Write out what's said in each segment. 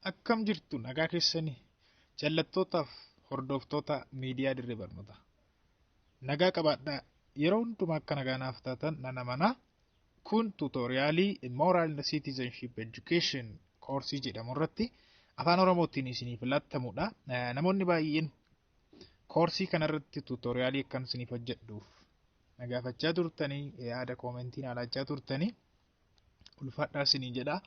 Akkam jirtu nagaa keessanii jallattootaaf hordoftoota miidiyaa dirree barnootaa. Nagaa qabaadhaa yeroo hundumaa akka nagaa naaf taatan nan amanaa. Kun tuutooriyaalii Moral and Citizenship Education koorsii jedhamu irratti afaan Oromootiin isiniif laatamudha. Namoonni baay'een koorsii kanarratti tuutooriyaalii akkan isiniif hojjedhuuf na gaafachaa turtanii yaada koomentii na laachaa turtanii ulfaadhaa isinii jedha.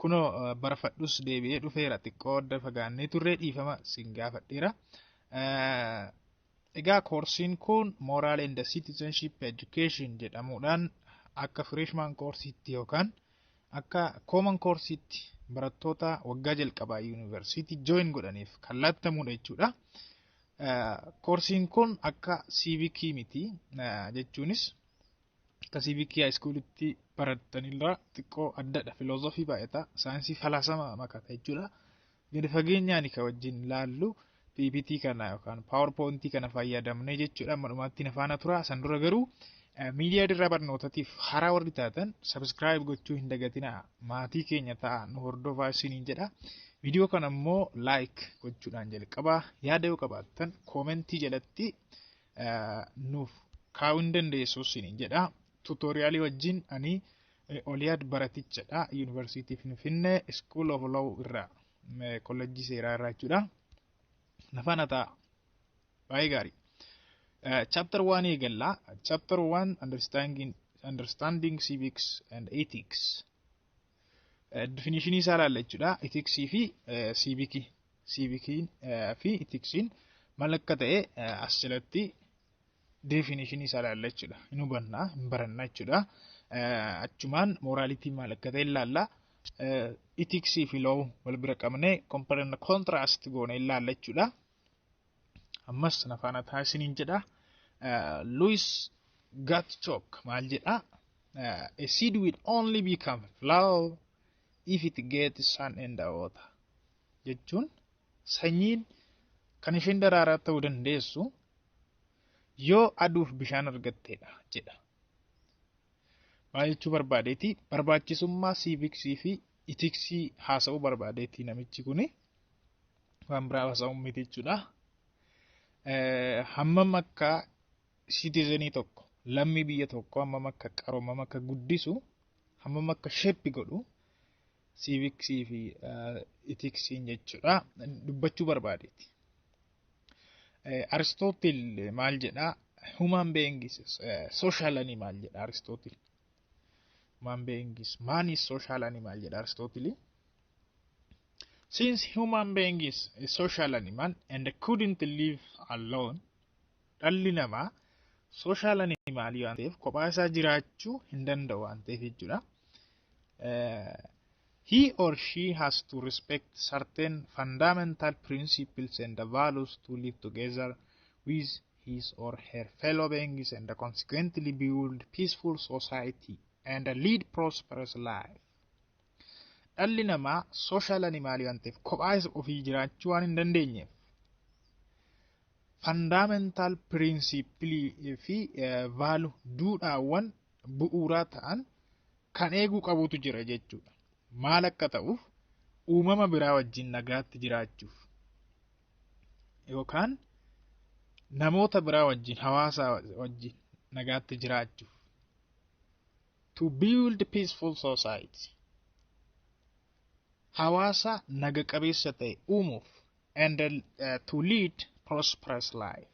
Kunoo barfadhus deebi'ee dhufeera xiqqoo adda fagaannee turree dhiifama isin gaafadheera. Egaa koorsiin kun Moral and Citizenship Education jedhamuudhaan akka freshman koorsiitti yookaan akka common koorsiitti barattoota waggaa jalqabaa yuunivarsiitii join godhaniif kan laattamuudha jechuudha. Koorsiin kun akka siivikii miti jechuunis Akka civic high schoolitti barattanirraa xiqqoo addadha. Filoozofii baay'ata. Saayinsii falaasama makata jechuudha. Gadi fageenyaan ka wajjin laallu PPT kana yookaan PowerPoint kana fayyadamnee jechuudha. Amma dhumaatti na faana tura. San dura garuu miidiyaa dirraa barnootatiif haraa warri taatan sabiskiraayib gochuu hin dagatinaa. Maatii keenya ta'a nu hordofaa isiniin jedha. Viidiyoo kana immoo laayik gochuudhaan jalqabaa yaada yoo qabaattan koomentii jalatti nuuf kaa'uu hin dandeessu siin jedha. Tuutooriyaalii wajjin ani Oliyaad baratichadha. Yuunivarsiitii Finfinnee School of Law irraa kollejjii seeraa irraa jechuudha. Nafaan hataa baay'ee gaarii. Chapter 1 eegalla. Chapter 1 understanding, understanding civics and ethics. Difinishinii isaa ilaalla jechuudha. Itiksii fi siivikii. Siivikiin fi itiksiin maal akka ta'e as jalatti definishinii isaa ilaalla jechuudha. Hin hubanna, hin baranna jechuudha. Achumaan mooraalitii maal akka ta'e ilaalla. Itiksii fi loow wal bira qabnee komparan kontiraast goone ilaalla jechuudha. ammas na faana ta'a isiniin jedha Louis Gatchok maal jedha a seed will only become flower if it gets sun and water jechuun sanyiin kan isheen daraaraa ta'uu dandeessu yoo aduuf bishaan argatteedha jedha. Maal jechuu barbaadeeti? Barbaachisummaa siiviksii fi itiksii haasa'uu barbaadeeti namichi kuni. waan biraa haasa'uun miti jechuudha. Hammam akka siitizenii tokko lammii biyya tokko hammam akka qaru hammam akka guddisu hammam akka sheeppi godhu siiviksii fi itiksiin jechuudha dubbachuu barbaadeeti. Aristootil maal jedhaa? Human beings social animal jedha Aristootil. Human being is man is social animal jedha Aristootili. Since human being is a social animal and couldn't live alone, dhalli namaa social animal waan ta'eef kophaa isaa jiraachuu hin danda'u waan ta'eef jechuudha. He or she has to respect certain fundamental principles and values to live together with his or her fellow beings and consequently build peaceful society and lead prosperous life. Dhalli namaa social animal waan ta'eef kophaa isa ofii jiraachuu waan hin dandeenyeef fundamental principle fi vaalu duudhaawwan bu'uuraa ta'an kan eeguu qabutu jira jechuudha. Maal akka ta'uuf uumama biraa wajjin nagaatti jiraachuuf. yookaan namoota biraa wajjin hawaasa wajjin nagaatti jiraachuuf to build peaceful society hawaasa naga qabeessa ta'e uumuuf and uh, to lead prosperous life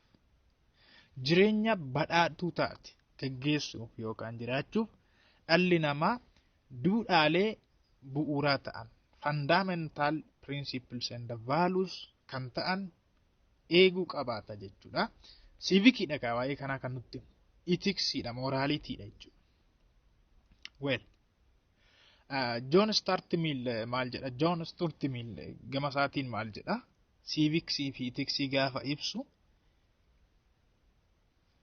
jireenya badhaadhuu taate gaggeessuuf yookaan jiraachuuf dhalli namaa Duudhaalee bu'uuraa ta'an, fundamental principles and values, kan ta'an eeguu qabaata jechuudha. Siivikiidha kaa waa'ee kanaa kan nutti himu. Itiksiidha, mooraalitiidha jechuudha. Well, Joon Staart Miil maal jedha? Joon Stuart Miil gama isaatiin maal jedha? Siiviksii fi itiksii gaafa ibsu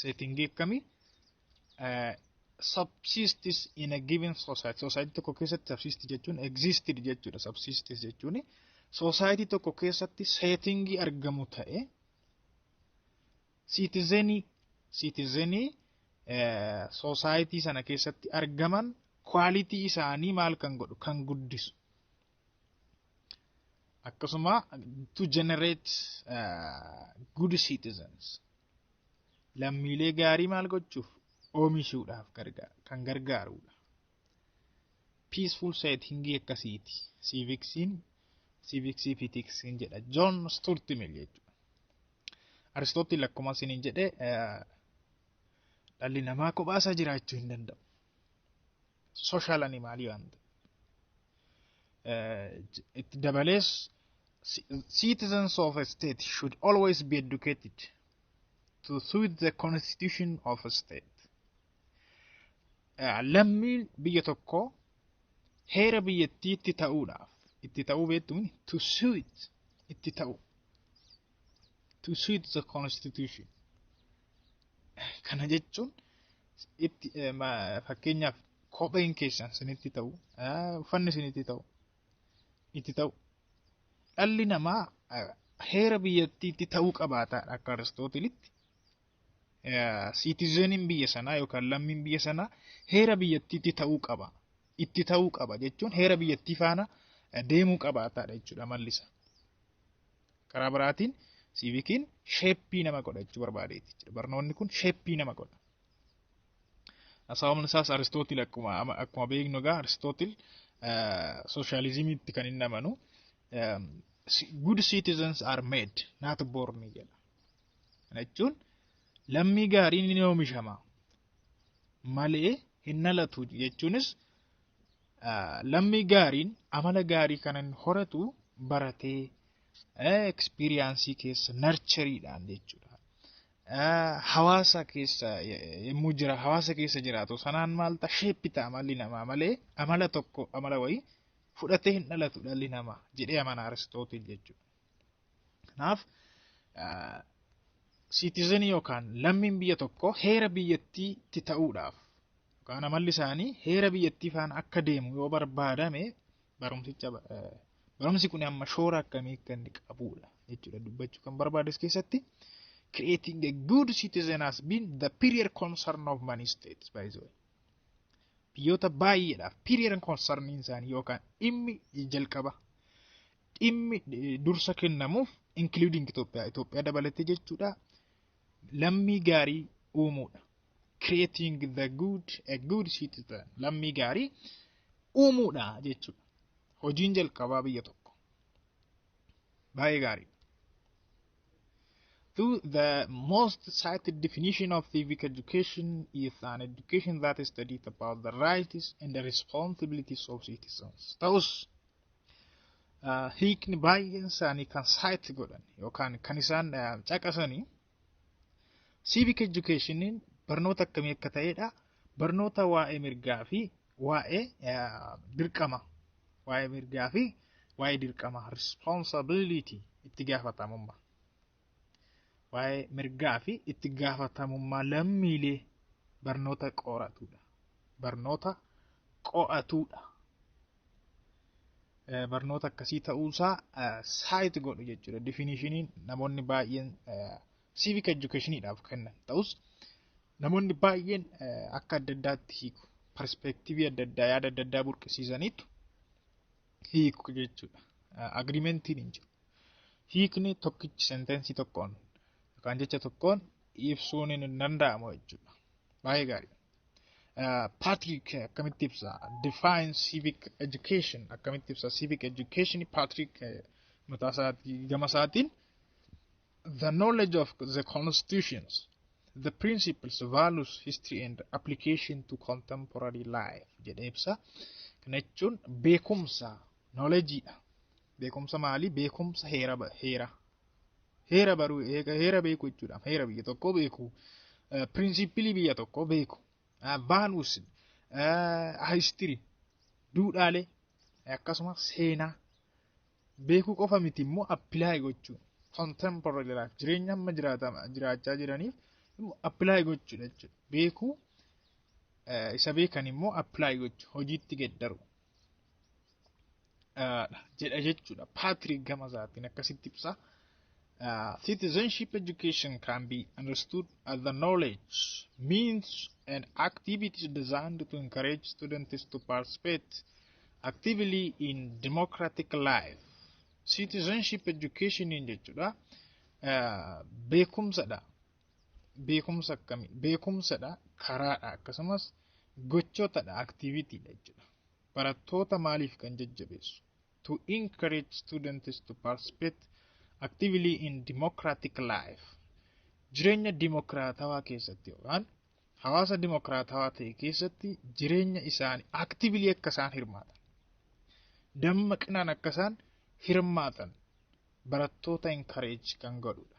seetingii akkamii subsistis in a given society society tokko keessatti subsist jechuun existed jechuudha subsistis jechuun society tokko keessatti seetingii argamu ta'e siitizenii siitizenii society sana keessatti argaman kwaalitii isaanii maal kan godhu kan guddisu akkasuma to generate uh, good citizens lammiilee gaarii maal gochuuf oomishuudhaaf gargaara kan gargaarudha. Peaceful setting akkasiiti. Siiviksiin siiviksii fi tiksiin jedha. John Stuart Mill jechuudha. Aristootil akkuma isiniin jedhe dhalli namaa kophaasaa jiraachuu hin danda'u. Social animaalii waan ta'eef. itti dabalees citizens of a state should always be educated to suit the constitution of a state lammiin biyya tokko heera biyyattii itti ta'uudhaaf itti ta'uu beektuun to suit itti ta'u to suit the constitution kana jechuun itti fakkeenyaaf kopheen keessan sinitti ta'u uffanni sinitti ta'u itti ta'u dhalli namaa heera biyyattiitti ta'uu qabaata akka aristootilitti siitizeniin biyya sanaa yookaan lammiin biyya sanaa heera biyyattiitti ta'uu qaba itti ta'uu qaba jechuun heera biyyattii faana deemuu qabaataadha jechuudha mallisa. Karaa biraatiin siivikiin sheeppii nama godha jechuu barbaadeeti jechuudha. Barnoonni kun sheeppii nama godha. Sababni isaas Aristootil akkuma ama- akkuma beeknu egaa Aristootil sooshaalizimiitti kan inni amanu um, si- good citizens are made not born jedha. Kana jechuun lammii gaariin ni oomishama malee hin dhalatu jechuunis ah, lammii gaariin amala gaarii kan inni horatu baratee ekspiriyaansii keessa narchariidhaan jechuudha. Hawaasa keessa yommuu jira hawaasa keessa jiraatu sanaan maal ta'a sheeppi ta'a malli namaa malee amala tokko amala wayii fudhatee hin dhalatu dhalli namaa jedhee amana Aristootil jechuudha. Kanaaf siitizenii yookaan lammiin biyya tokko heera biyyattiitti ta'uudhaaf yookaan amalli isaanii heera biyyattii faana akka deemu yoo barbaadame barumsicha Barumsi kun amma shoora akkamii akka inni qabuudha jechuudha dubbachuu kan barbaadu as keessatti. Creating a good citizen has been the period concern of many states by the way. Biyyoota baay'eedhaaf period concern isaanii yookaan dhimmi jalqaba dhimmi eh, dursa kennamuuf including Itoophiyaa Itoophiyaa dabalatee jechuudha lammii gaarii uumuudha. Creating the good a good citizen lammii gaarii uumuudha jechuudha. Hojiin jalqabaa biyya tokko. Baay'ee gaarii. Though the most cited definition of civic education is an education that studies about the rights and the responsibilities of citizens. Ta'us hiikni baay'een isaanii kan saayit godhan yookaan kan isaan caqasanii Civic education barnoota akkamii akka ta'edha. Barnoota waa'ee mirgaa fi waa'ee dirqama. Waa'ee mirgaa fi waa'ee dirqama responsibility itti gaafatamummaa. Waa'ee mirgaa fi itti gaafatamummaa lammiilee barnoota qoratudha. Barnoota qo'atudha. barnoota akkasii ta'uusaa saayit godhu jechuudha. Difiiniishiniin namoonni baay'een civic educationiidhaaf kennan ta'us namoonni baay'een akka adda addaatti hiiku. Perspeektiivii adda addaa yaada adda addaa burqisiisaniitu hiiku jechuudha. Agiriimentiin hin jiru. Hiikni tokkichi senteensii tokkoon yookaan jecha tokkoon ibsuun hin danda'amu jechuudha. Baay'ee gaarii. Patrick akkamitti ibsa? Define civic education akkamitti ibsa? Civic education Patrick mataa isaatii gama isaatiin the knowledge of the constitutions, the principles, values, history and application to contemporary life jedhee ibsa. Kana jechuun beekumsa, knowledgeidha. Beekumsa maali? Beekumsa heera heera Heera baruu heera beekuu jechuudha. Heera biyya tokkoo beekuu. Piriinsippilii biyya tokkoo beekuu. Vaaluus histirii duudhaalee akkasumas seenaa beekuu qofa miti immoo appilaay gochuu. Contemporary life jireenya amma jiraachaa jiraniif appilaay gochuudha jechuudha. Beekuu isa beekan immoo appilaay gochuu hojiitti geddaru. jedha jechuudha. Patrick gama isaatiin akkasitti ibsa. Citizenship education can be understood as the knowledge, means and activities designed to encourage students to participate actively in democratic life. Citizenship education jechuudha. Beekumsadha. beekumsa akkami beekumsadha karaadha akkasumas gochootadha aktiivitiidha jechuudha barattoota maaliif kan jajjabeessu to encourage students to participate actively in democratic life jireenya dimokiraatawaa keessatti yookaan hawaasa dimokiraatawaa ta'e keessatti jireenya isaanii actively akka isaan hirmaatan dammaqinaan akka isaan hirmaatan barattoota encourage kan godhudha.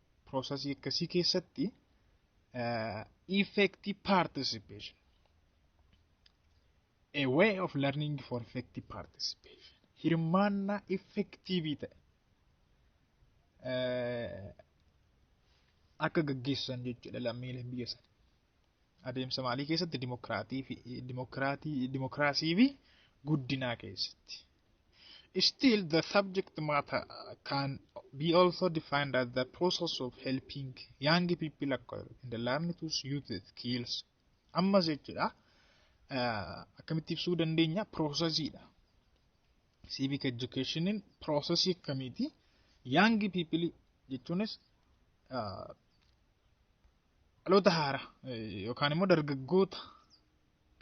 Piroosasii akkasii keessatti effective participation a way of learning for effective participation hirmaannaa effektiivii ta'e akka gaggeessan jechuudha lammiileen biyya sana. Adeemsa maalii keessatti dimokiraatii fi dimokiraatii dimokiraasii fi guddinaa keessatti. Still, the subject matter can be also defined as the process of helping young people acquire and learn to use the skills. Ammas jechuudha akkamitti ibsuu dandeenya piroosesiidha. Civic educationin piroosesii akkamiiti young people jechuunis dhaloota haaraa yookaan immoo dargaggoota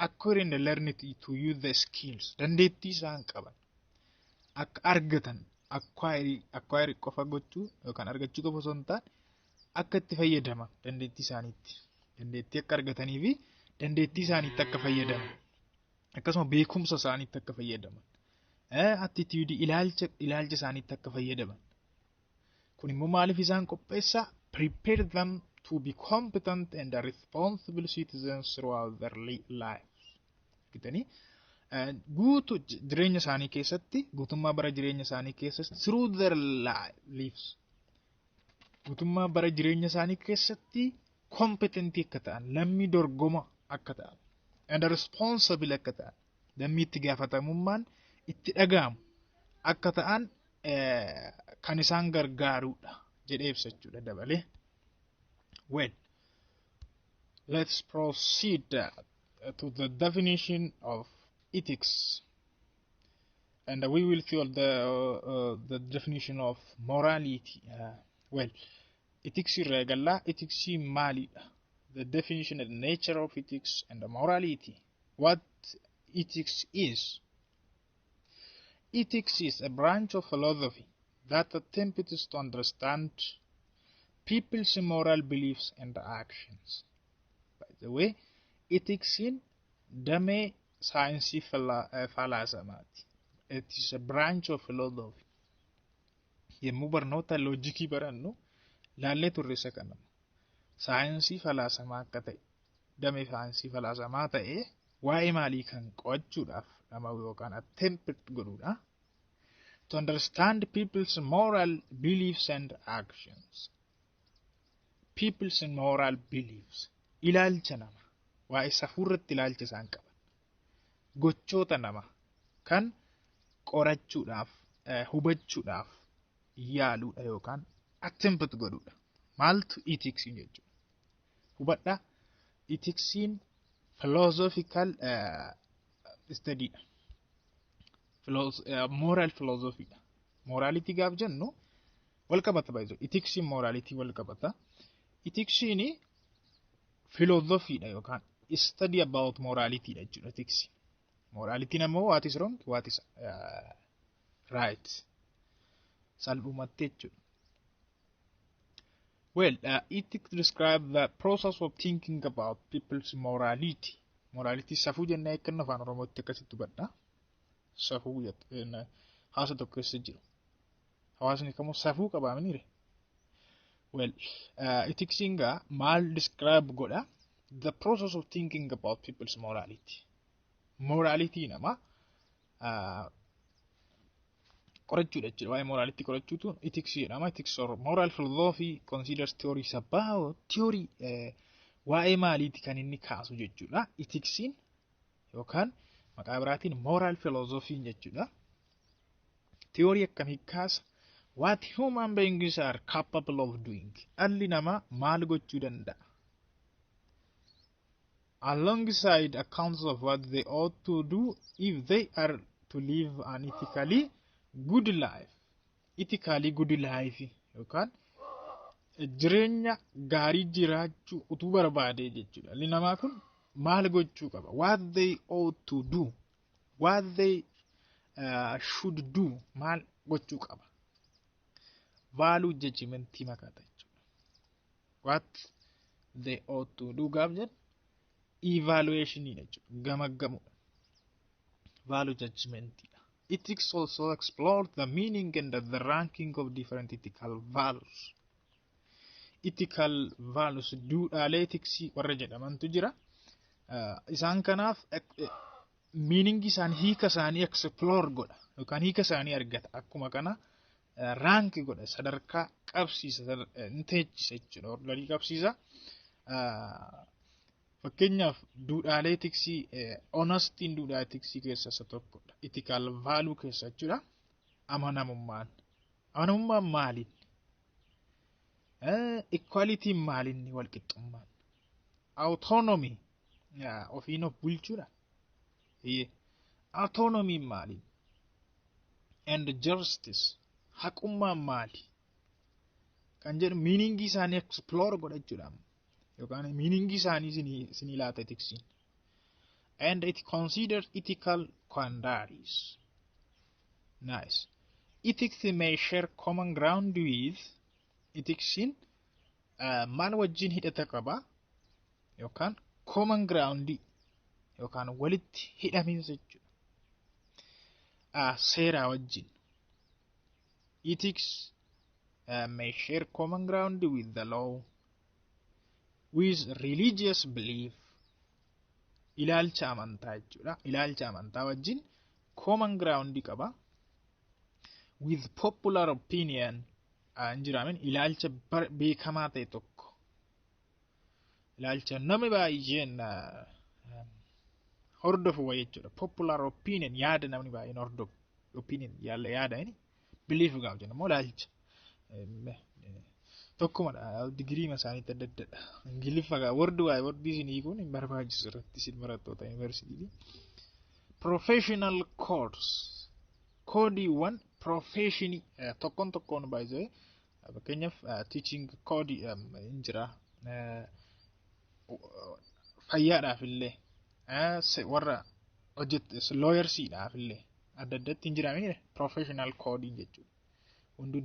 according the learned to use the skills dandeettii isaan qaban akka argatan acquire acquire qofa gochuu yookaan argachuu qofa osoo hin taane akka itti fayyadaman dandeettii isaaniitti dandeettii akka argatanii fi dandeettii isaaniitti akka fayyadaman akkasuma beekumsa isaaniitti akka fayyadaman attitude ilaalcha ilaalcha isaaniitti akka fayyadaman Kun immoo maaliif isaan qopheessa? Prepare them to be competent and responsible citizens throughout their life. Gitanii guutu jireenya isaanii keessatti guutummaa bara jireenya isaanii keessatti through their lives guutummaa bara jireenya isaanii keessatti kompetentii akka ta'an lammii dorgoma akka ta'an and responsible akka ta'an lammii itti gaafatamummaan itti dhaga'amu akka ta'an kan isaan gargaarudha jedhee ibsa jechuudha dabalee. Well, let's proceed to the definition of ethics. And we will see all the, uh, the definition of morality. Uh, well, ethics irraa eegallaa ethics maalidha? The definition and nature of ethics and the morality. What ethics is Ethics is a branch of philosophy that attempts to understand people's moral beliefs and actions. By the way, ethics'n damee saayinsii fala- eh, falaasamaati. It is a branch of philosophy. Yommuu barnoota loojikii barannu laallee turre isa kana. Saayinsii falaasamaa akka ta'e, damee saayinsii falaasamaa ta'ee waa'ee maalii kan qo'achuudhaaf dhama'u yookaan attempt godhuudha. To understand people's moral beliefs and actions. People's moral beliefs. Ilaalcha nama. Waa'ee safuu irratti ilaalcha isaan qaban. Gochoota nama kan qorachuudhaaf, eh, hubachuudhaaf yaaluudha yookaan attempt godhuudha. Maaltu ethics jechuudha? hubadha itiksiin philosophical study dha. Moral philosophy dha. Morality gaaf jennu wal qabata baay'ee jiru. Itiksiin morality wal qabata. Itiksiin philosophy dha yookaan study about morality dha jechuudha itiksi. Morality namoo what is wrong what is right salphumatti jechuudha. Well, uh, it describes the process of thinking about people's morality. Morality safuu jennee akka inni afaan Oromootti akkasitti hubadha. Safuu jennee haasa tokko keessa jiru. Hawaasni kamuu safuu qabaa miniire. Well, uh, itiksiin gaa maal describe godha? The process of thinking about people's morality. Morality nama uh, qorachuudha jechuudha. Waa'ee moraalitti qorachuutu itiksii jedhama. Itiks or moral philosophy considers theories about theory waa'ee maaliiti kan inni kaasu jechuudha. Itiksiin yookaan maqaa biraatiin moral philosophy jechuudha. Theory akkamii kaasa? What human beings are capable of doing. Dhalli namaa maal gochuu danda'a? alongside accounts of what they ought to do if they are to live an ethically good life. Ethically good life yookaan jireenya gaarii jiraachuu utuu barbaadee jechuudha. Dhalli namaa kun maal gochuu qaba? What they ought to do. What they uh, should do. Maal gochuu qaba? Vaaluu jechimentii makaata jechuudha. what they ought to do gaaf jedhu evaluation dha jechuudha gamaggamudha value judgment dha ethics also explore the meaning and the ranking of different ethical values ethical values duudhaalee etiksii warra jedhamantu jira Uh, isaan kanaaf miiningi isaanii hiika isaanii explore godha yookaan hiika isaanii argata akkuma kana raanki godha sadarkaa qabsiisa ni teechisa jechuudha ordarii qabsiisa. Fakkeenyaaf duudhaalee tiksii onastiin duudhaa tiksii keessaa isa tokkodha. Itikaal vaaluu keessa jechuudha. Amanamummaan. Amanamummaan maaliin? Ikwaalitiin maaliin walqixxummaan? Awutoonomii ofiin of bulchuudha. Eeyyee. Autonomiin maali? And justice. Haqummaan maali? Kan jedhu miiningii isaanii explore godhachuudhaan yookaan miiningii isaanii isinii isinii laata etiksiin. And it considered ethical quandaries. Nice. Ethics may share common ground with etiksiin maal wajjin hidhata qaba yookaan common ground yookaan walitti hidhamiinsa jechuudha. Seeraa wajjin. Ethics uh, may share common ground with the law, with religious belief, ilaalcha amantaa jechuudha. Ilaalcha amantaa wajjin common ground qaba. With popular opinion, hin jiraamin ilaalcha beekamaa ta'e tokko ilaalcha namni baay'een hordofu wa jechuudha. Popular opinion yaada namni baay'een hordofu opinion yaada inni belief gaafa jennu immoo ilaalcha tokkumadha digirii isaaniitti adda addadha. Ingiliffa gaa wardi waa'ee wardii isin hiikuun hin barbaachisu irratti isin barattoota yuunivarsiitii. Professional course Koodiiwwan piroofeeshinii tokkoon tokkoon baay'ee fakkeenyaaf tiichiing koodii hin jira. Fayyaadhaaf illee warra hojjetu looyarsiidhaaf illee adda addatti hin jira miti piroofeeshinaal koodii jechuudha. Hunduu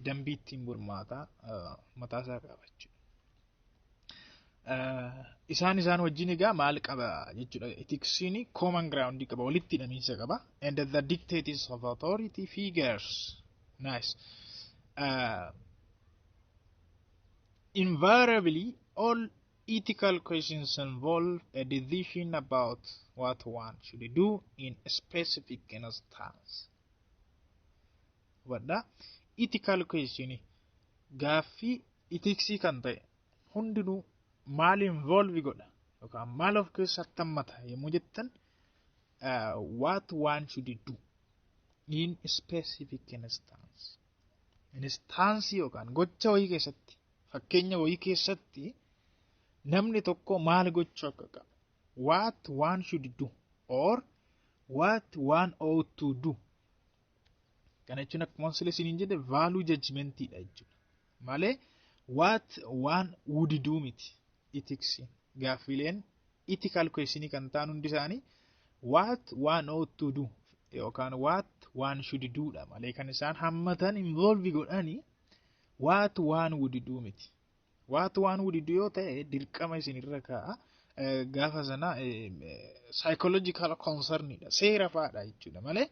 dambii ittiin bulmaataa mataasaa qaba jechuudha. isaan isaan wajjin egaa maal qaba jechuudha etiksiin common ground qaba walitti hidhamiinsa qaba and the dictates of authority figures nice uh, invariably all ethical questions involve a decision about what one should do in a specific instance hubadhaa ethical question gaaffii itiksii kan ta'e hundinuu maal involve godha yookaan maal of keessatti hammata yommuu jettan uh, what one should do in specific instance instance yookaan gocha wayii keessatti fakkeenya wayii keessatti namni tokko maal gochuu akka qabu what one should do or what one ought to do Kana jechuun akkuma sila isiniin jedhe vaaluu jajmentiidha jechuudha. Malee waat waan wudiduu miti itiksiin gaaffiileen itikaal kweeshinii kan ta'an hundi isaanii waat waan oottu du yookaan waat waan shudiduudha malee kan isaan hammatan involvi godhanii waat waan wudiduu miti. Waatu waan wudidu yoo ta'e dirqama isin irra kaa'a. Gaafa sana psychological concernidha. Seera fa'aadha jechuudha malee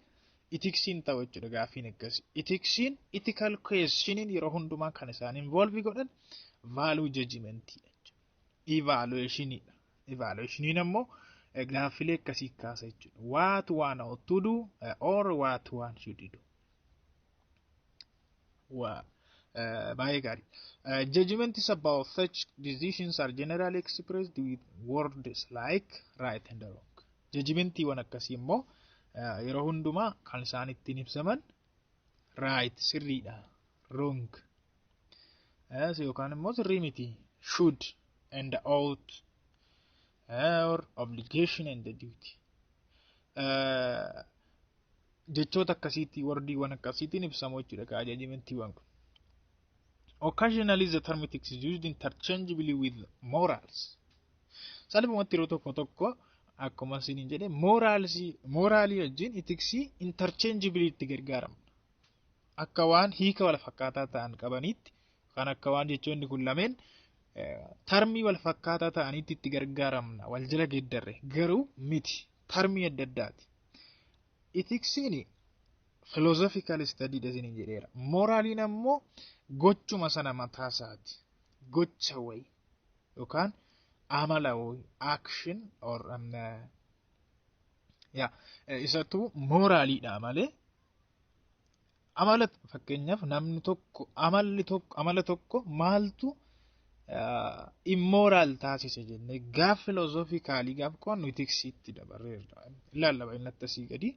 itiksiin ta'u jechuudha gaaffiin akkasii. Itiksiin ethical questioniin yeroo hundumaa kan isaan involve godhan value judgmentidha jechuudha. Evaluationidha. Evaluationiin ammoo gaaffilee akkasii kaasa jechuudha. Waatu waan ought to do or waatu waan should do. Waa. baay'ee gaarii. Judgments about such decisions are generally expressed with words like right and wrong. Judgmentiiwwan akkasii immoo yeroo hundumaa kan isaan ittiin ibsaman right sirriidha wrong yookaan immoo sirrii miti should and ought or obligation and duty. jechoota akkasiitti wardiiwwan akkasiitiin ibsamu jechuudha ka ajajimentiiwwan kun. Occasionally the term ethics is used interchangeably with morals. Salphumatti yeroo tokko tokko akkuma isiniin jedhe moraalsii moraalii wajjin itiksii interchangeably itti gargaaramu. Akka waan hiika wal fakkaataa ta'an qabaniitti kan akka waan jechoonni kun lameen tarmii wal fakkaataa ta'aniitti itti gargaaramna wal jala geeddarre garuu miti tarmii adda addaati Itiksiin philosophical study dha isiniin jedheera. Moraaliin ammoo gochuma sana mataa isaati. Gocha wayi yookaan amala wayi action or um, ya isatu moraaliidha malee Amala fakkeenyaaf namni tokko amalli tokko amala tokko maaltu immooraal taasise jennee gaaf filoozoofii gaaf qo'annu itiksiitti dabarreerra. Ilaalla baay'inatti asii gadi.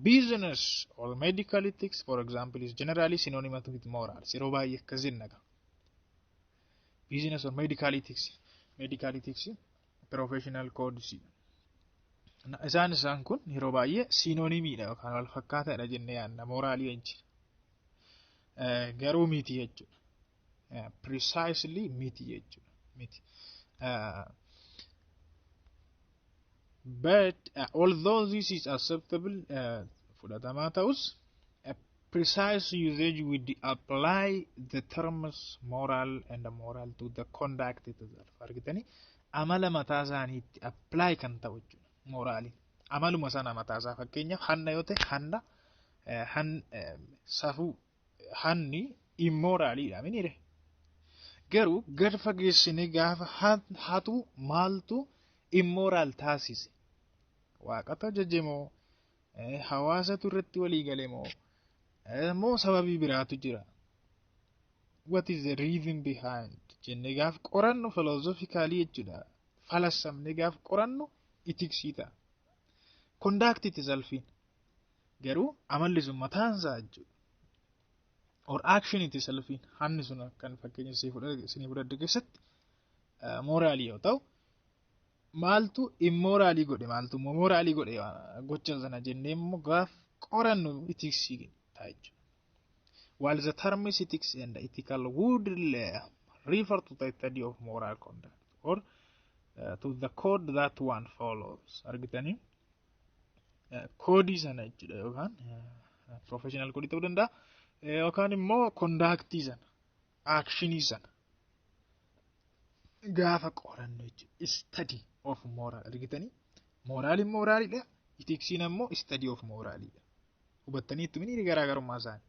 Business or medical ethics for example is generally synonymous with morals. Yeroo baay'ee akkas jenna. Business or medical ethics. Medical ethics Professional codes isaan isaan kun yeroo baay'ee siinoonimiidha yookaan wal fakkaataadha jennee yaadna mooraalii wajjin garuu miti jechuudha. Precisely miti jechuudha. Miti. But uh, although this is acceptable uh, fudhatamaa ta'us precise usage with the apply the terms moral and moral to the conduct itself argitanii amala mataa isaaniitti apply kan ta'u jechuudha moraaliin amaluma sana mataa isaa fakkeenyaaf hanna yoo ta'e hanna eh, han eh, safuu hanni immoraaliidha minire garuu gad fageessinee gaafa han- hatu maaltu immoraal taasise waaqatu ajajemoo Hawaasatu irratti walii gale moo moo sababii biraatu jira. What is the reason behind? Jennee gaaf qorannu filoozofikaalii jechuudha. Falassamnee gaaf qorannu itiksii ta'a. Kondaaktii itti salfiin. Garuu amalli sun mataan isaa jechuudha. Or action itti salfiin hanni sun kan fakkeenya isinii fudhadhe keessatti mooraalii yoo ta'u maaltu immooraalii godhe maaltu immoo mooraalii godhe gocha sana jennee immoo gaaf qorannu itiksii ta'a jechuudha. While the terms ethics and ethical would refer to the study of moral conduct or uh, to the code that one follows argitanii koodii sana jechuudha yookaan professional koodii ta'uu danda'a yookaan immoo kondaaktii sana aakshinii sana gaafa qorannoo jechuudha. Study of moral argitanii mooraaliin mooraalidha. Itiksiin ammoo study of mooraalidha. Hubattanii itti minii garaagarummaa isaanii.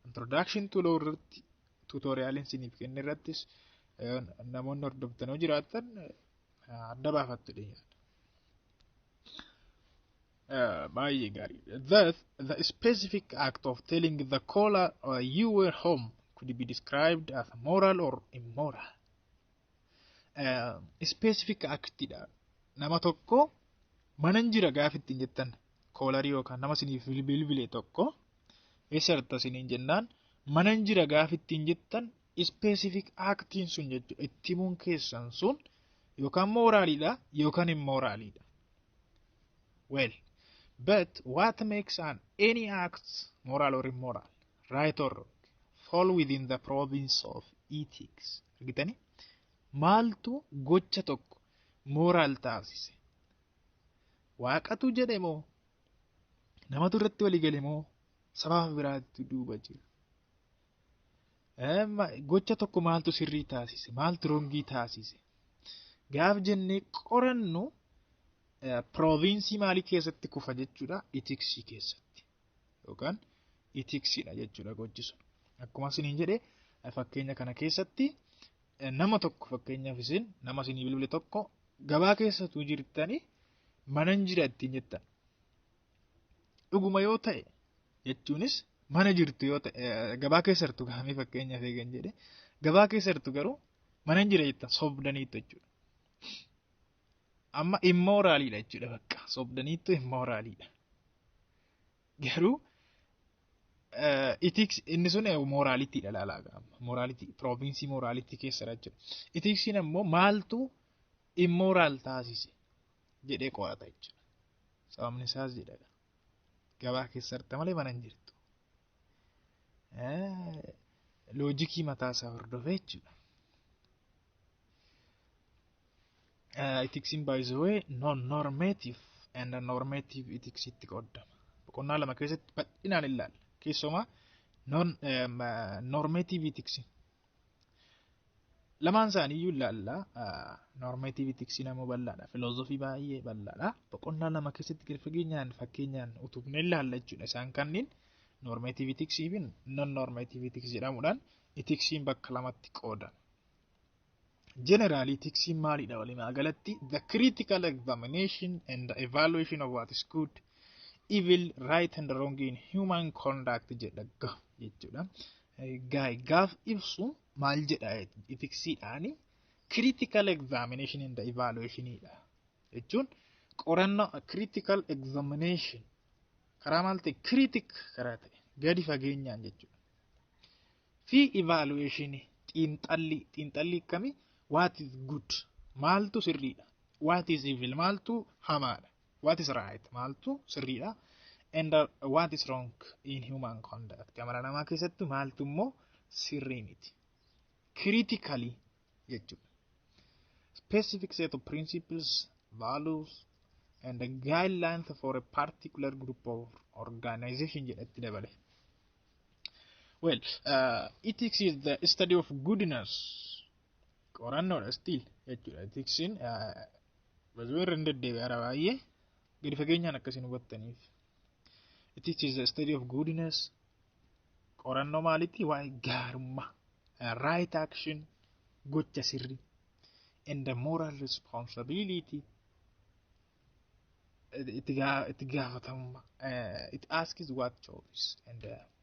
Introduction to law irratti tuutooriyaaliin isiniif kenne irrattis namoonni hordoftanoo jiraatan adda baafattu dhiyaata. Baay'ee gaarii. Thus, the specific act of telling the caller uh, you were home could be described as moral or immoral. Uh, specific actidha. Nama tokko manan jira gaafa ittiin jettan koolarii yookaan nama isiniif bilbile tokko eessa jirta isiniin jennaan manan jira gaafa ittiin jettan specific actiin sun jechuudha. Itti himuun keessan sun yookaan mooraalidha yookaan immooraalidha. Well, but what makes an any act moral or immoral, right or wrong, fall within the province of ethics? Argitanii? Maaltu gocha tokko moral taasise? Waaqatu jedhe moo? Namatu irratti walii gale moo? Sababa biraatu duuba jira. Gocha tokko maaltu sirrii taasise? Maaltu rongii taasise? Gaaf jennee qorannu pirooviinsii maalii keessatti kufa jechuudha? Itiksii keessatti yookaan itiksiidha jechuudha gochi sun. Akkuma isiniin jedhe fakkeenya kana keessatti nama tokko fakkeenyaaf isin nama isinii bilbile tokko gabaa keessatu jirtanii manan jira ittiin jettan. Dhuguma yoo ta'e jechuunis mana jirtu yoo ta'e gabaa keessa jirtu gahamee fakkeenyaaf eegan jedhe gabaa keessa jirtu garuu mana hin jira jettan sobdaniitu jechuudha. Amma immooraaliidha jechuudha bakka sobdaniitu immooraaliidha. Garuu itiks inni sun mooraaliitiidha laalaa gaama mooraaliitii piroovinsii mooraaliitii keessadha jechuudha. Itiksiin ammoo maaltu immooraal taasise jedhee qorata jechuudha. Sababni isaas jedha gabaa keessa jirta malee mana hin jirtu. Loojikii mataa isaa hordofee jechuudha. Itiksiin by the way non-normative and normative itiksiitti qoodama. Boqonnaa lama keessatti bal'inaan ilaalla. Keessumaa non-normative itiksiin Lamaan isaaniiyyuu ilaalla. Noormeetiivii tiksii nama bal'aadha. Filoozofii baay'ee bal'aadha. Boqonnaa lama keessatti gadi fageenyaan fakkeenyaan utubnee ilaalla jechuudha. Isaan kanneen noormeetiivii tiksii fi non noormeetiivii tiksii jedhamuudhaan itiksiin bakka lamatti qoodama. Generally, tiksiin maalidha walumaa galatti? The critical examination and the evaluation of what is good, evil, right and wrong in human conduct jedha jechuudha. Gaay gaaf ibsu maal jedha itiksiidhaani critical examination and evaluation dha jechuun qorannoo critical examination karaa maal ta'e critic karaa ta'e gadi fageenyaan jechuudha. Fi evaluation xiinxallii xiinxallii akkamii what is good maaltu sirriidha what is evil maaltu hamaadha what is right maaltu sirriidha and uh, what is wrong in human conduct amala namaa keessatti maaltu immoo sirrii miti critically jechuudha specific set of principles values and the guidelines for a particular group of organization jedhatti dabale well uh, ethics is the study of goodness qorannoodha still jechuudha ethicsn uh, Bazuwee irra hin deddeebi'e hara baay'ee gadi fageenyaan akkasiin hubattaniif. It teaches the study of goodness. Qorannoo maalitti waa'ee gaarummaa. Right action gocha sirri. And the moral responsibility. Itti gaafatamummaa. It asks what choice and uh,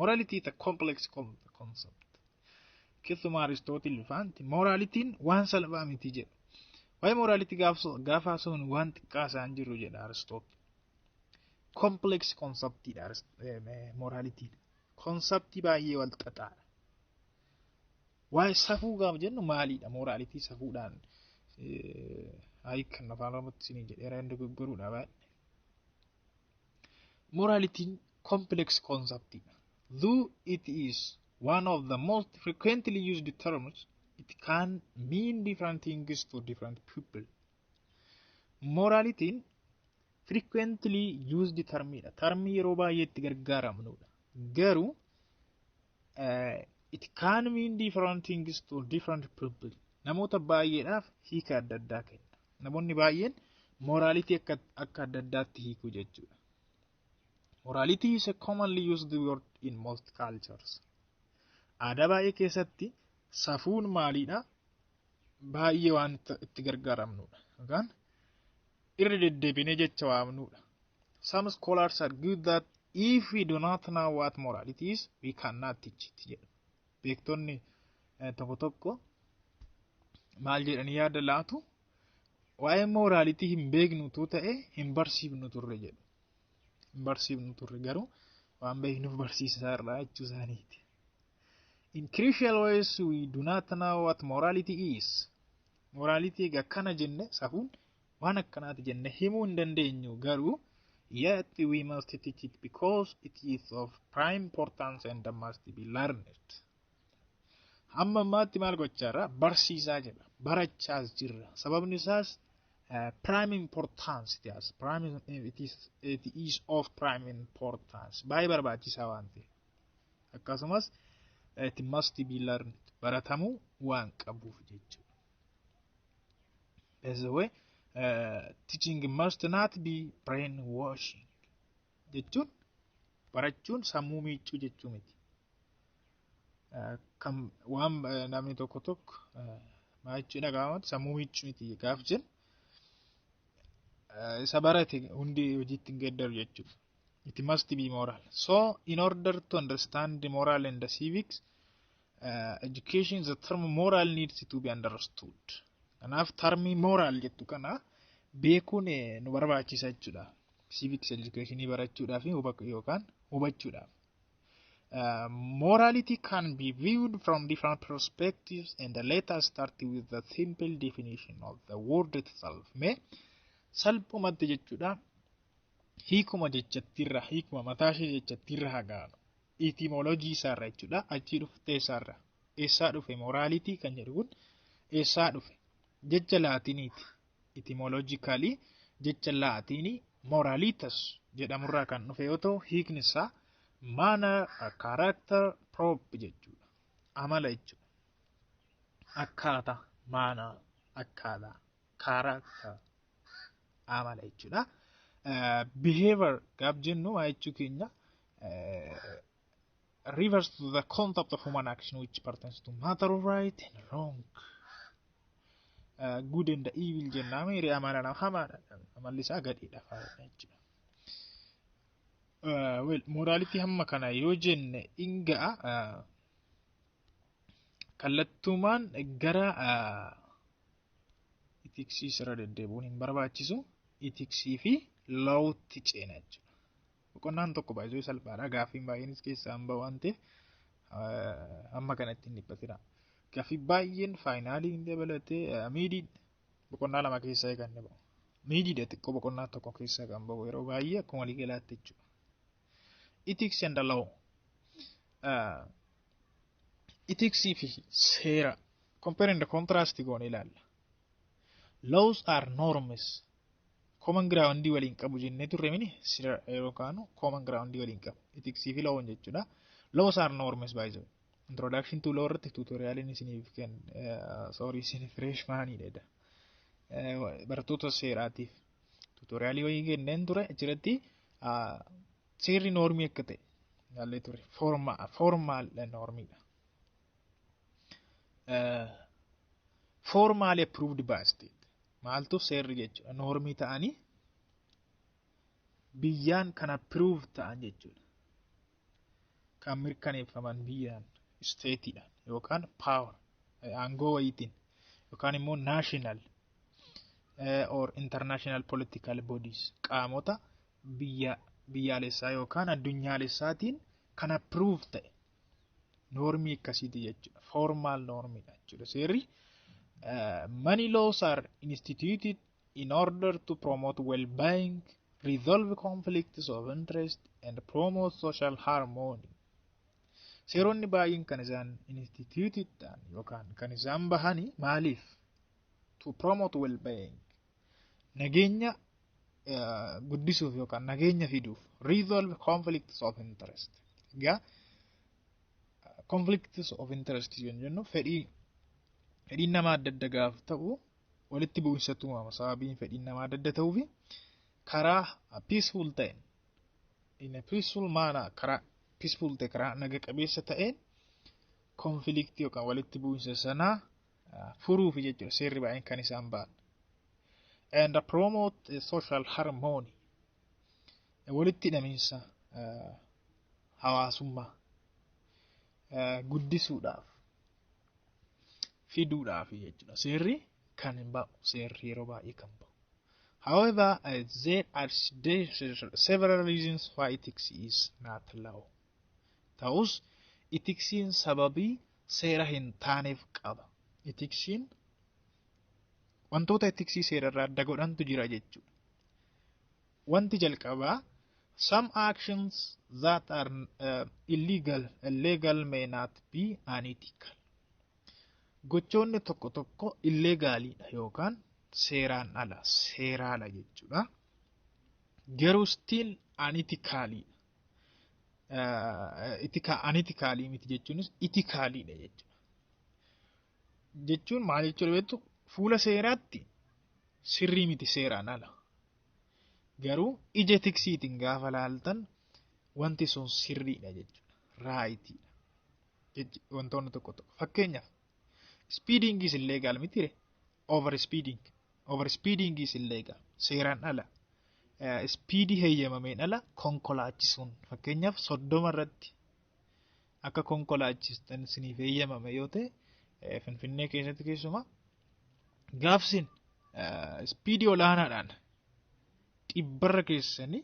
Morality is a complex concept. Keessumaa Aristootil faanti moraalitiin waan salphaa miti jedha. Waa'ee moraalitii gaafa haasofnu waan xiqqaa isaan jiru jedha Aristootil. Complex conceptidha moraalitiin. Konseptii baay'ee wal xaxaadha. Waa'ee safuu gaafa jennu maalidha moraalitii safuudhaan ayi kan afaan oromootti isinii jedheera hin dogoggoruudha baay'ee. Moraalitiin complex concept dha. Though it is one of the most frequently used terms, it can mean different things to different people. Moraalitiin frequently used term dha. Termii yeroo baay'ee itti gargaaramnudha. Garuu Uh, it can mean different things to different people. Namoota baay'eedhaaf hiika adda addaa kenna. Namoonni baay'een moraalitii akka, akka adda addaatti hiiku jechuudha. Morality is a commonly used word in most cultures. Aadaa baay'ee keessatti safuun maaliidha? baay'ee waan itti gargaaramnudha. Yookaan irra deddeebinee jecha waamnudha. Some scholars argue that if we do not know what morality is, we cannot teach it jedhu. Beektonni eh, tokko tokko maal jedhanii yaada laatu waa'ee moraalitii hin beeknutu ta'e hin barsiifnu turre jedhu. Hin barsiifnu turre garuu waan beeknuuf barsiisaa irraa jechuu isaaniiti. In crucial ways we do not know what morality is. Morality egaa akkana jenne safuun waan akkanaati jenne himuu hin dandeenyu garuu yet we must teach it because it is of prime importance and must be learned. Amma ammaatti maal gochaa jirra? Barsiisaa jirra. Barachaas jirra. Sababni isaas uh, prime importance it has. Prime, it, is, it is of prime importance. Baay'ee barbaachisaa waan ta'eef. akkasumas it must be learned baratamuu waan qabuuf jechuudha. By the way, uh, teaching must not be brainwashing jechuun barachuun sammuu miiccuu jechuu miti. Uh, kan waan uh, namni tokko tokko uh, maal jechuu dhaga'amu sammuu miiccuu miti gaaf jennu isa barate hundi hojiitti hin geeddaru jechuudha. it must be moral. So, in order to understand the moral and the civics, uh, education, the term moral needs to be understood. Kanaaf tarmii moral jettu kana beekuun nu barbaachisa jechuudha. Civics education barachuudhaaf yookaan hubachuudhaaf. Uh, morality can be viewed from different perspectives and let us start with the simple definition of the word itself. Mee salphumatti jechuudha. hiikuma jechattiirra hiikuma mataa ishee jechattiirra hagaanu itimolojii isaarra jechuudha achii dhuftee isaarra eessaa dhufe moraalitii kan jedhu kun eessaa dhufe jecha laatiniiti itimolojikaalii jecha laatiinii moraalitas jedhamurraa kan dhufe yoo ta'u hiikni isaa maana kaaraaktar proop jechuudha amala jechuudha akkaataa maana akkaataa character amala jechuudha. Eh, Behavior gaaf jennu maa jechuu keenya eh, refers to the concept of human action which pertains to matter of right and wrong. Eh, Good and evil jennaa miiri amala nama hamaadha. Amalli isaa gadheedha faayidha jechuudha. Eh, Well, morality hamma kana yoo jenne in ga'a eh, kallattumaan gara eh, itiksii sirra deddeebi'uun hin barbaachisu itiksii fi lawutti ceena jechuudha. Boqonnaan tokko baay'ee salphaadha gaaffiin baay'eenis keessaa hin ba'u waan ta'eef amma kanatti hin dhiphatina. Gaaffii baay'een faayinaalii hin dabalatee miidii boqonnaa lama keessaa eeganne ba'u. Miidiidha xiqqoo boqonnaa tokko keessaa kan ba'u yeroo baay'ee akkuma waliigalaatti jechuudha. Ethics and the law. Uh, ethics fi seera compare and contrast goone ilaalla. Laws are norms. Common ground waliin qabu jennee turre mini sira yeroo kaanu common ground waliin qabu. Ethics fi law jechuudha. Laws are norms by the way. Introduction to law irratti tutorialiin isiniif kenn sorry isin freshman dha. Barattoota seeraatiif tuutoriyaalii wayii kenneen ture achirratti seerri noormii akka ta'e ilaallee ture foormaal noormiidha. Foormaali approved by state maaltu seerri jechuudha noormii ta'anii biyyaan kan approve ta'an jechuudha. kan mirkaneeffaman biyyaan isteetiidhaan yookaan power aangoo wayiitiin yookaan immoo national or international political bodies qaamota biyya biyyaalessaa yookaan addunyaalessaatiin kan approve ta'e noormii akkasiiti jechuudha formal noormiidha jechuudha seerri money laws are instituted in order to promote well-being, resolve conflicts of interest, and promote social harmony. Seeronni baay'een kan isaan instituted ta'an yookaan kan isaan bahani maaliif? To promote well-being. Nageenya eh, guddisuuf yookaan nageenya fiduuf. Resolve conflicts of interest. Egaa conflicts of interest yoo jennu fedhii fedhiin nama adda adda gaaf ta'u walitti bu'insatti uumama sababiin fedhiin namaa adda adda ta'uu fi karaa peaceful ta'een in a peaceful manner karaa peaceful ta'e karaa naga qabeessa ta'een conflict yookaan walitti bu'insa sanaa uh, furuuf jechuudha seerri baay'een kan isaan ba'an and promote a social harmony walitti hidhamiinsa uh, hawaasummaa uh, guddisuudhaaf fiduudhaaf jechuudha. Seerri kan hin ba'u seerri yeroo baay'ee kan ba'u. However, uh, there are there are several reasons why ethics is not law. Ta'us itiksiin sababii seera hin taaneef qaba. Itiksiin wantoota itiksii seerarraa adda godhantu jira jechuudha. Wanti jalqabaa Some actions that are uh, illegal, illegal may not be unethical. Gochoonni tokko tokko illegaaliidha yookaan seeraan ala, seeraala jechuudha. Garuu still unethicaliidha. Uh, itika, unethicalii miti jechuunis itikaliidha jechuudha. Jechuun maal jechuudha beektu fuula seeraatti sirrii miti seeraan ala. Garuu ija tiksiitiin gaafa laaltan wanti sun sirriidha jechuudha. Raayitiidha. Wantoonni tokko tokko. Fakkeenyaaf ispiidiingiis illee gaal mitiire. Over speeding. Over speedingiis illee gaal. Seeraan ala. Ispiidii heeyyamameen ala konkolaachisuun fakkeenyaaf soddoma irratti akka konkolaachistan isiniif eeyyamame yoo ta'e Finfinnee keessatti keessumaa gaafsiin ispiidii olaanaadhaan dhibbarra keessanii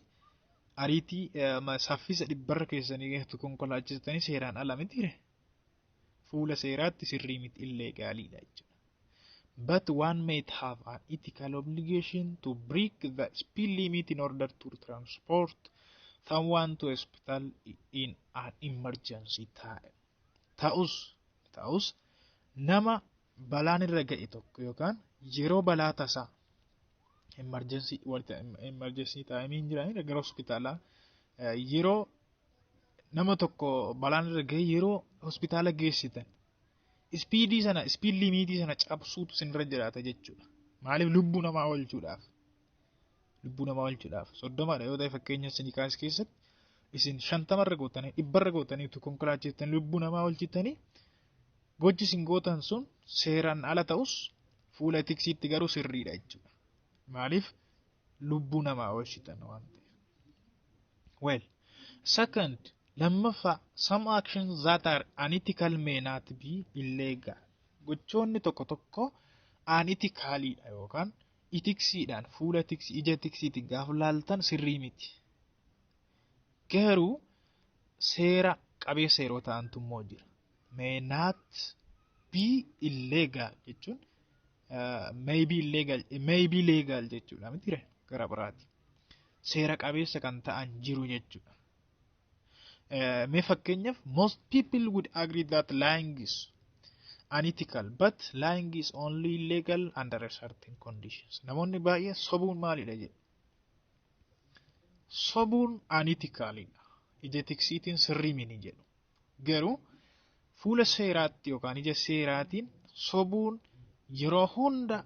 ariitii saffisa dhibbarra keessanii keessatti konkolaachistanii seeraan ala mitiire fuula seeraatti sirrii miti illee gaaliidha jechuudha. but one might have an ethical obligation to break the speed limit in order to transport someone to hospital in an emergency time. Ta'us, ta'us nama balaan irra ga'e tokko yookaan yeroo balaa tasaa emergency wanta emergency time hin jiran gara hospitaalaa eh, yeroo nama tokko balaan irra ga'e yeroo hospitaala geessitan ispiidii sana ispiid limiitii sana cabsuutu sinirra jiraata jechuudha. Maaliif lubbuu namaa oolchuudhaaf? Lubbuu namaa oolchuudhaaf soddomadha yoo ta'e fakkeenya sinikaas keessatti isin shantamarra gootanii dhibbarra gootanii utuu konkolaachiftanii lubbuu namaa oolchitanii gochi isin gootan sun seeraan ala ta'us fuula tiksiitti garuu sirriidha jechuudha. Maaliif lubbuu namaa oolchitan waan ta'eef. Well, second, lammaffaa, some actions that are unethical may not be illegal. Gochoonni tokko tokko unethicalidha yookaan itiksiidhaan fuula tiksi ija tiksiitiin gaafa laaltan sirrii miti. Garuu seera qabeessa yeroo ta'antu immoo jira. May not be illegal jechuun uh, may be illegal may be legal jechuudha miti gara biraati. seera qabeessa kan ta'an jiru jechuudha. Eh, Mee fakkeenyaaf most people would agree that lying is unethical but lying is only legal under a certain conditions. Namoonni baay'een sobuun maalidha jedhu. Sobuun unethicalidha. Ija tiksiitiin sirrii mini jedhu. Garuu fuula seeraatti yookaan ija seeraatiin sobuun yeroo hunda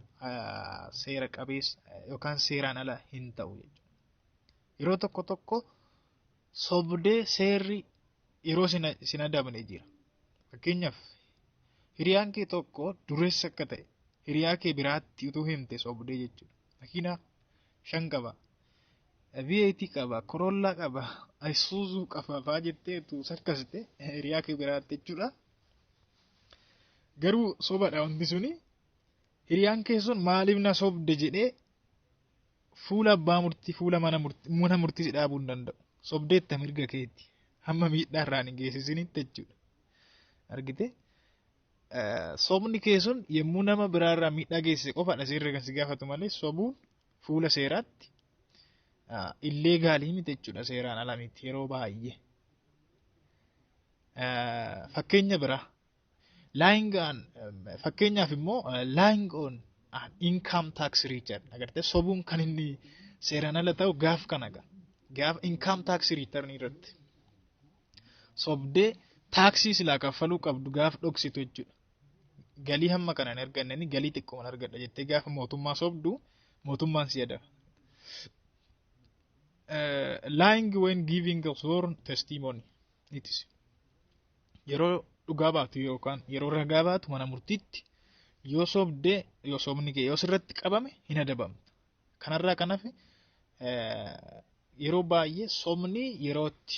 seera qabeessa yookaan seeraan ala hin ta'u jechuudha. Yeroo tokko tokko sobdee seerri yeroo sin adabne jira. Fakkeenyaaf hiriyaan kee tokko dureessa akka ta'e hiriyaa kee biraatti utuu himte sobdee jechuudha. Makiinaa shan qaba. VAT qaba, Corolla qaba, Isuzu qaba faa jettee tu sakkasite hiriyaa kee biraatti jechuudha. Garuu sobadha wanti suni hiriyaan kee sun maaliif na sobde jedhee fuula abbaa murtii fuula mana murtii mana murtii si dhaabuu hin danda'u. Sobdeetta mirga keeti. Hamma miidhaa irraan hin geessisinitti jechuudha. Argite? Sobni kee sun yommuu nama biraarraa miidhaa geessise qofaadha seerri kan si gaafatu malee sobuun fuula seeraatti illee gaalii miti jechuudha seeraan ala miti yeroo baay'ee. Fakkeenya biraa lying on fakkeenyaaf immoo lying on an income tax return agartee sobuun kan inni seeraan ala ta'u gaaf kana gaaf income tax return irratti. sobdee taaksii silaa kaffaluu qabdu gaaf dhoksitu jechuudha. Galii hamma kana hin argannani galii xiqqooman argadha jettee gaafa mootummaa sobdu mootummaan si adaba. Eh, lying when giving a sworn testimony it is yeroo dhugaa baatu yookaan yeroo ragaa baatu mana murtiitti yoo sobdee yoo sobni kee yoo sirratti qabame hin adabamtu. Kanarraa kan hafe yeroo baay'ee sobni yerootti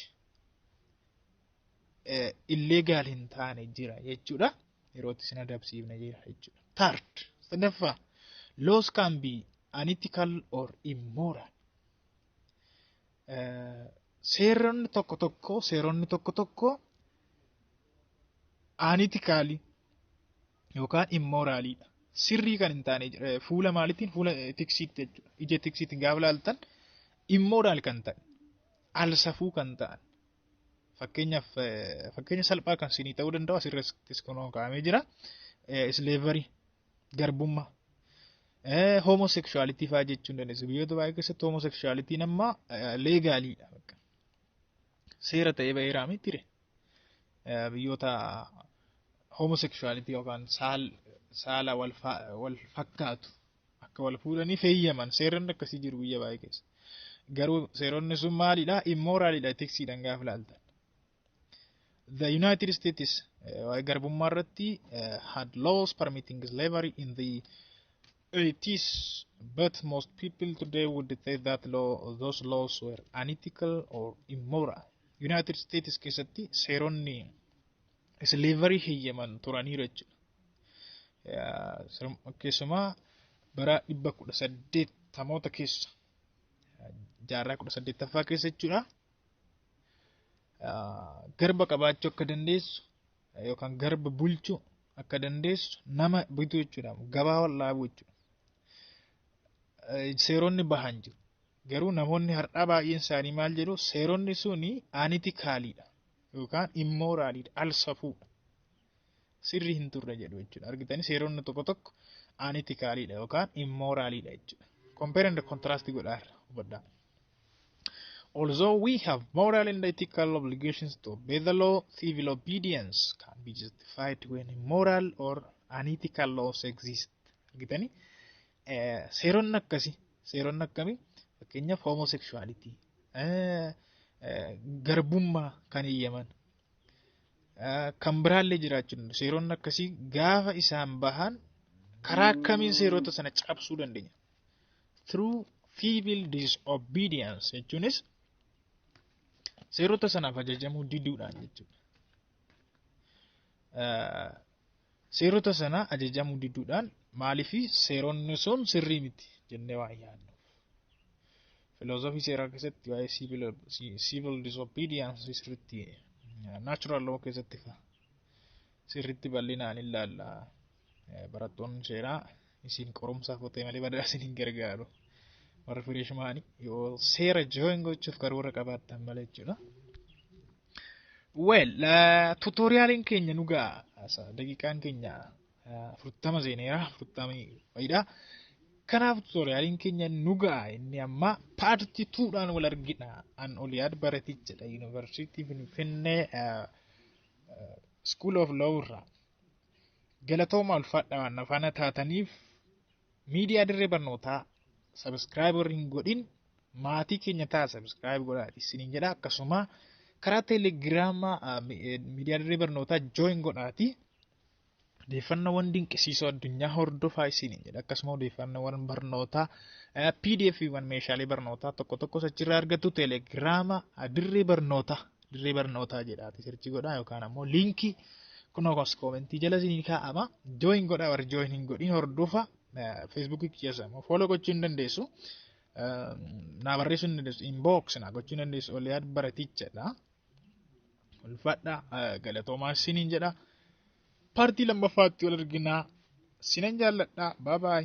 illee gaal hin taane jira jechuudha. Yerootti sin adabsiifne jira jechuudha. Third, sadaffaa, laws can be unethical or immoral. Seeronni tokko tokko seeronni tokko tokko unethical yookaan immoraaliidha. Sirrii kan hin taane fuula maaliitiin fuula tiksiitti jechuudha. Ija tiksiitiin gaafa laaltan immoraal kan ta'e alsafuu kan ta'an fakkeenyaaf fakkeenya salphaa kan sinii ta'uu danda'u asirrattis kun kaa'amee jira. Isleevarii garbummaa homoseksuwaalitii fa'aa jechuun dandeessu. Biyyoota baay'ee keessatti homoseksuwaalitiin amma leegaaliidha. seera ta'ee ba'eeraa mitire. Biyyoota homosexuality yookaan saal saala wal fa- wal fakkaatu akka wal fuudhanii feeyyaman seeronni akkasii jiru biyya baay'ee keessa. Garuu seeronni sun maalidha? Immooraalidha etiksiidhaan gaafa ilaaltan. The United States eh, garbummaa irratti eh, had laws permitting slavery in the They teach, but most people today would say that law, those laws were unethical or immoral. United States keessatti seeronni slavery heyyaman turaniiru jechuudha. Eh, sir- Keessumaa bara dhibba kudha saddeettamoota keessa eh, jaarraa kudha saddeettaffaa keessa jechuudha. Ah, Garba qabaachuu akka dandeessu yookaan garba bulchuu akka dandeessu nama bituu jechuudha. Gabaa wal dhaabuu jechuudha. Seeronni bahan jiru. Garuu namoonni har'aa baay'een isaanii maal jedhu seeronni suni aanitikaaliidha yookaan immooraaliidha al safuudha. Sirrii hin turre jedhu jechuudha. Argitanii seeronni tokko tokko aanitikaaliidha yookaan immooraaliidha jechuudha. Compare and contrast godhaarra hubadhaa. Although we have moral and ethical obligations to obey the law, civil obedience can be justified when immoral or unethical laws exist. Argitanii? Eh, Seeronni akkasii, seeronni akkamii? Fakkeenyaaf homosexuality, eh, eh, garbummaa kan eeyyaman, eh, kan biraallee jiraachuu danda'u. Seeronni akkasii gaafa isaan bahan karaa akkamiin seerota sana cabsuu dandeenya? through civil disobedience jechuunis seerota sanaaf ajajamuu diduudhaan jechuudha. Eh, Seerota sana ajajamuu diduudhaan maaliif seeronni sun sirrii miti jennee waan yaadnu. Filoosofii seeraa keessatti waa'ee civil, civil disobedience sirriitti eh, natural law keessatti fa- sirriitti bal'inaan ilaalla. Barattoonni seeraa isin qorumsaaf otee malee badaa isin hin gargaaru. Warri fireeshmaanii yoo seera jooyin gochuuf karoora qabaattan malee jechuudha. Well, tuutooriyaaliin keenya nu ga'a. Daqiiqaan keenya afurtama seeneera. Afurtama fayidaa. Kanaaf tuutooriyaaliin keenya nu ga'a. Inni ammaa paartii tuudhaan wal argina. An Oliyaad Baratichadha. Yuunivarsiitii Finfinnee School of Law irraa. Galatooma ulfaadha na faana taataniif miidiyaa dirree barnootaa sabiskiraayib warri hin godhin maatii keenya ta'a sabiskiraayib godhaa isiniin jedha akkasuma karaa teelegiraamaa ah, mi- eh, miidiyaa dirree barnootaa jooyin godhaati. Odeeffannoowwan dinqisiisoo addunyaa hordofaa isiniin jedha akkasuma odeeffannoowwan barnootaa eh, PDF wan meeshaalee barnootaa tokko tokkos achirraa argattu teelegiraama ah, dirree barnootaa dirree barnootaa jedhaati sirchi godhaa yookaan ammoo liinkii kunoo kos koomentii jala isinii kaa'ama jooyin godhaa warri jooyin hin godhin hordofa feesbuukii keessa immoo fooloo gochuu hin dandeessu. Naa barreessuu hin dandeessu inbox naa gochuu hin dandeessu oliyaad baratichadha. Ulfaadha galatoomaa isiniin jedha. Paartii lammaffaatti wal arginaa sinan jaalladha baabaay.